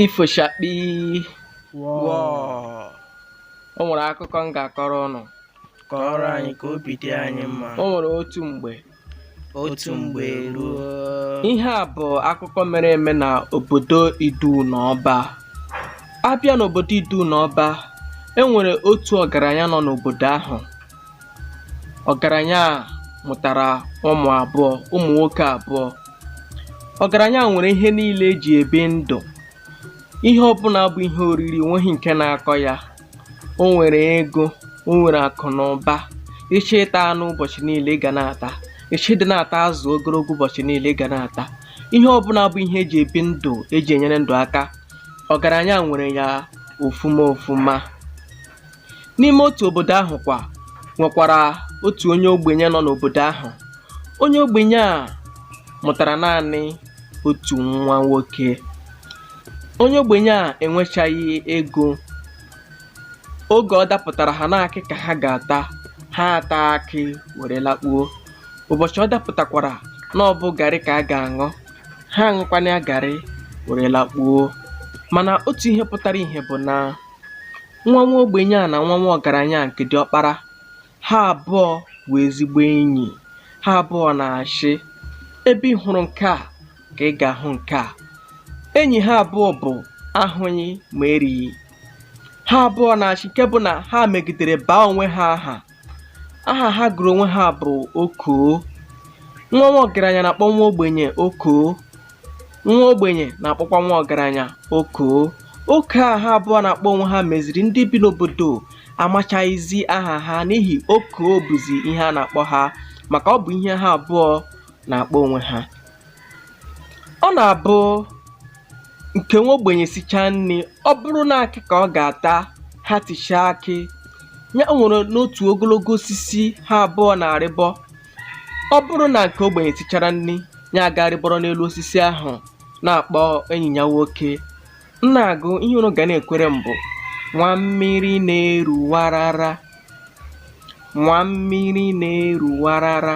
ifo chakpi Wọọ. o nwere akụkọ m ga-akọrọ ụnụ Kọọrọ anyị ka obi dị anyị mma. o nwere otu mgbe Otu mgbe ruo. ihe a bụ akụkọ mere eme na obodo idu na ọba a bịa n'obodo idu na ọba e nwere otu ọgaranya nọ n'obodo ahụ ọgaranya a mụtara ụmụ abụọ ụmụ nwoke abụọ ọgaranya a nwere ihe niile eji ebi ndụ ihe ọbụla bụ ihe oriri nweghị nke na-akọ ya o nwere ego o nwere akụ na ụba ị chọọ ịta anụ ụbọchị niile ị ga na-ata ị chọọ ịdị na-ata azụ ogologo ụbọchị niile ị ga na-ata ihe ọbụla bụ ihe eji ebi ndụ eji enyere ndụ aka ọgaranya nwere ya ofuma ofuma N'ime otu obodo ahụ kwa nwekwara otu onye ogbenye nọ n'obodo ahụ. Onye ogbenye a mụtara naanị otu nwa nwoke. Onye ogbenye a enwechaghị ego. Oge ọ dapụtara ha na akị ka ha ga-ata, ha ata akị were lakpuo. Ụbọchị ọ dapụtakwara na ọ bụ garị ka a ga-aṅụ, ha aṅụkwana ya garị were lakpuo. Mana otu ihe pụtara ihe bụ na Nwa nwa ogbenye a na nwa nwa ọgaranya a nke diọkpara, ha abụọ bụ ezigbo enyi. Ha abụọ na-achị, ebe ị hụrụ nke a ka ị ga-ahụ nke a. Enyi ha abụọ bụ ahụghị ma erighị. Ha abụọ na-achị nke bụ na ha megidere baa onwe ha aha aha ha gụrụ onwe ha bụ okoo nwa nwa ọgaranya na-akpọ nwa ogbenye okoo nwa ogbenye na-akpọkwa nwa ọgaranya okoo okoo a ha abụọ na-akpọ onwe ha meziri ndị bi n'obodo amachaghịzi aha ha n'ihi okoo bụzi ihe a na-akpọ ha maka ọ bụ ihe ha abụọ na-akpọ onwe ha Ọ na-abụ nke nwa ogbenye sichaa nri, ọ bụrụ na akị ka ọ ga-ata, ha tichaa akị, ya o nwere n'otu ogologo osisi ha abụọ na-arịbọ. Ọ bụrụ na nke ogbenye sichara nri, ya aga rịbọrọ n'elu osisi ahụ na-akpọ enyi ya nwoke, "M na-agụ ihe unu ga na-ekwere m bụ nwa mmiri na-eru warara, nwa mmiri na-eru warara."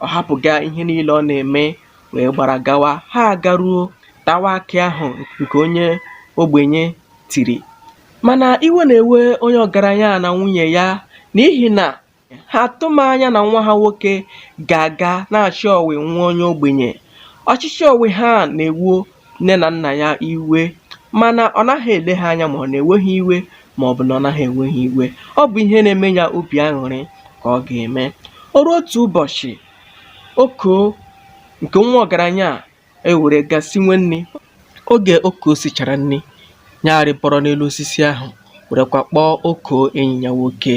Ọ hapụga ihe niile ọ na-eme wee gbara gawa. Ha agaruo tawa akị ahụ nke onye ogbenye tiri. Mana iwe na-ewe onye ọgaranya a na nwunye ya n'ihi na ha atụghị anya na nwa ha nwoke ga-aga na-achị ọwị nwa onye ogbenye. Ọchịchị ọwị ha na-ewu nne na nna ya iwe mana ọ naghị ele ha anya ma ọ na-ewe ha iwe ma ọ bụ na ọ naghị ewe ha iwe ọ bụ ihe na-eme ya obi aṅụrị ka ọ ga-eme o ruo otu ụbọchị okoo nke nwa ọgaranya a ewere gaa sinwe nri oge okoo sichara nri ya arịbọrọ n'elu osisi ahụ werekwa kpọọ okoo enyi ya nwoke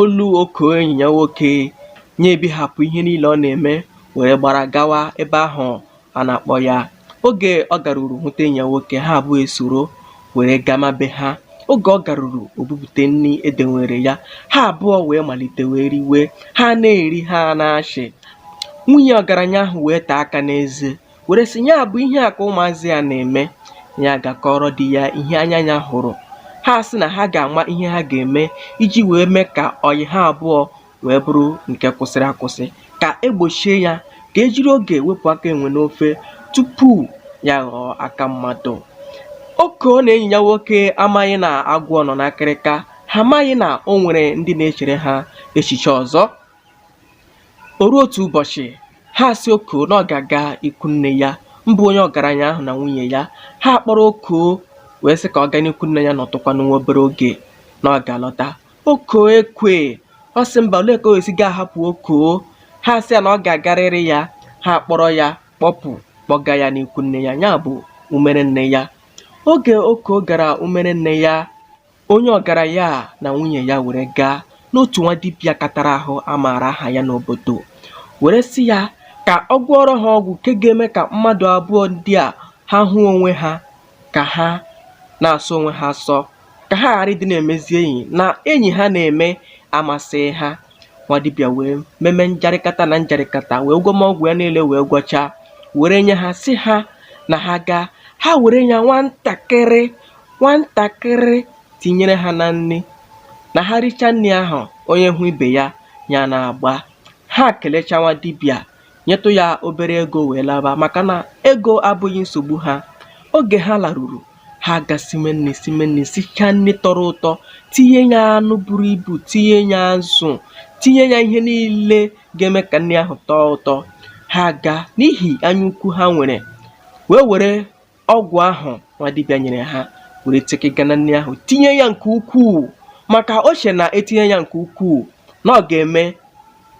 Olu Okoo enyi ya nwoke ya ebihapụ ihe niile ọ na-eme were gbara gawa ebe ahụ a na-akpọ ya. Oge ọ garuru hụta enyi ya nwoke, ha abụọ esoro were gama be ha. Oge ọ garuru, o bupụta nri edenwere ya. Ha abụọ wee malite wee riwe. Ha na-eri, ha na-achị. Nwunye ọgaranya ahụ wee taa aka n'eze. were sị ya bụ ihe a ka ụmụazị a na-eme ya aga kọọrọ di ya ihe anya ya hụrụ ha sị na ha ga-ama ihe ha ga-eme iji wee mee ka ọyị ha abụọ wee bụrụ nke kwụsịrị akwụsị ka egbochie ya ka ejiri oge wepụ aka enwe n'ofe tupu ya ghọọ aka mmadụ okoo na enyi ya nwoke amaghị na agwọ nọ n'akịrịka ha amaghị na o nwere ndị na-echere ha echiche ọzọ O ruo otu ụbọchị, ha asị Okoo na ọ ga-aga ikwu nne ya, mbụ onye ọgaranya ahụ na nwunye ya. Ha akpọrọ Okoo wee sị ka ọ gaa n'ikwu nne ya nọtụkwanụ nwa obere oge na ọ ga-alọta. Okoo ekwe. Ọ sị mba, olee ka o esi ga-ahapụ Okoo? Ha asị ya na ọ ga-agarịrị ya. Ha akpọrọ ya kpọpụ kpọga ya n'ikwu nne ya, ya bụ umere nne ya. Oge Okoo gara umere nne ya, Onye ọgaranya a na nwunye ya were gaa n'otu nwa dibịa katara ahụ a maara aha ya n'obodo were sị ya ka ọ gwọọrọ ha ọgwụ nke ga-eme ka mmadụ abụọ ndị a ha hụ onwe ha ka ha na-asọ onwe ha asọ ka ha ghara ịdị na-emezi enyi na enyi ha na-eme amasịghị ha. Nwa dibịa wee meme njarịkata na njarịkata wee gwọma ọgwụ ya niile wee gwọchaa were nye ha sị ha na ha gaa ha were ya nwantakịrị Nwantakịrị tinyere ha na nri, na ha richa nri ahụ, onye hụ ibe ya, ya na-agba. Ha kelecha nwa dibịa, nyetụ ya obere ego wee laba maka na ego abụghị nsogbu ha. Oge ha laruru, ha agasime nri sime nri sichaa nri tọrọ ụtọ, tinye ya anụ buru ibu, tinye ya azụ, tinye ya ihe niile ga-eme ka nri ahụ tọọ ụtọ. Ha aga n'ihi anyaukwu ha nwere wee were ọgwụ ahụ nwa dibịa nyere ha were tekega na nri ahụ tinye ya nke ukwuu maka o che na etinye ya nke ukwuu na ọ ga-eme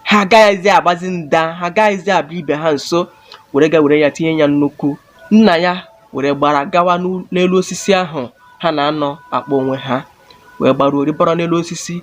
ha agaghịzi agbazi nda ha agaghịzi abịa ibe ha nso were ga were ya tinye ya nnukwu nna ya were gbara gawa n'elu osisi ahụ ha na-anọ akpọ onwe ha wee gbaruo rịbọrọ n'elu osisi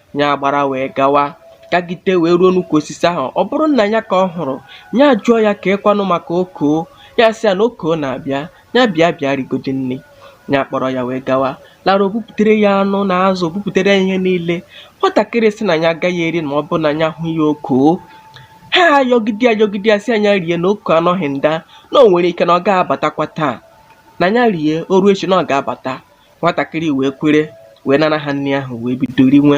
ya gbara wee gawa gagide wee ruo n'ukwu osisi ahụ ọ bụrụ nna ya ka ọ hụrụ ya jụọ ya kekwanụ maka okoo ya sị ya na okoo na-abịa ya bịa bịa rigodi nni ya kpọrọ ya wee gawa lara o bupụtere ya anụ na azụ o bupụtere ya ihe niile nwatakịrị sị na ya agaghị eri ma ọ bụ na ya hụ ya okoo ha ayọgide ayọgide ya sị nya rie na okoo anọghị nda na o nwere ike na ọ ga-abatakwa taa na ya rie o ruo echi na ọ ga-abata nwatakịrị wee kwere wee nara ha nri ahụ wee bido rinwe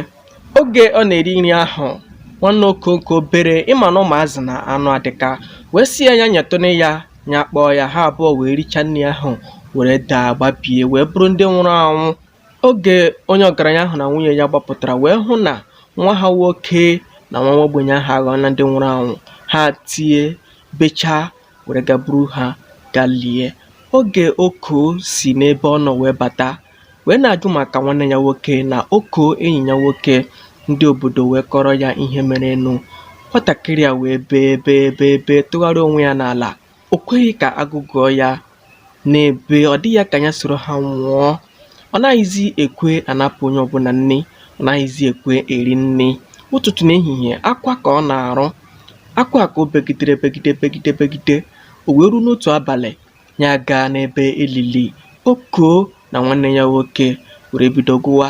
oge ọ na-eri nri ahụ nwanne okoo nke obere ị ma na ụmụazị na anụ adịka wee sị ya nya nyetụnụ ya nya kpọọ ya ha abụọ wee richaa nri ahụ were daa gbabie wee bụrụ ndị nwụrụ anwụ oge onye ọgaranya ahụ na nwunye ya gbapụtara wee hụ na nwa ha nwoke na nwa ogbenye ahụ aghọọla ndị nwụrụ anwụ ha tie bechaa were gaa buru ha gaa lie. Oge Oko si n'ebe ọ nọ wee bata wee na-ajụ maka nwanne ya nwoke na Oko enyi ya nwoke, ndị obodo wee kọrọ ya ihe merenụ. Nwatakịrị a wee bee bee bee bee tụgharịa onwe ya n'ala. O kweghị ka a gụgụọ ya. na-ebe ọ dị ya ka ya soro ha nwụọ ọ naghịzi ekwe anapụ onye ọbụla nni ọ naghịzi ekwe eri nni ụtụtụ na ehihie akwa ka ọ na-arụ akwa ka o begidere begide begide begide o wee ruo n'otu abalị ya gaa n'ebe e lili okoo na nwanne ya nwoke were bido gụwa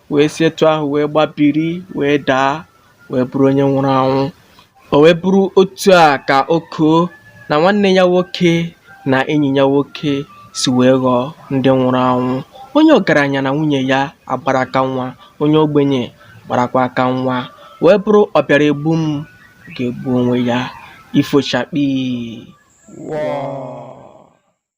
wee si etu ahụ wee gbabiri wee daa wee bụrụ onye nwụrụ anwụ o wee bụrụ otu a ka okoo na nwanne ya nwoke na enyi ya nwoke si wee ghọọ ndị nwụrụ anwụ onye ọgaranya na nwunye ya agbara aka nwa onye ogbenye gbarakwa aka nwa wee bụrụ ọ bịara egbu m ga-egbu onwe ya ifo chakpii wọọ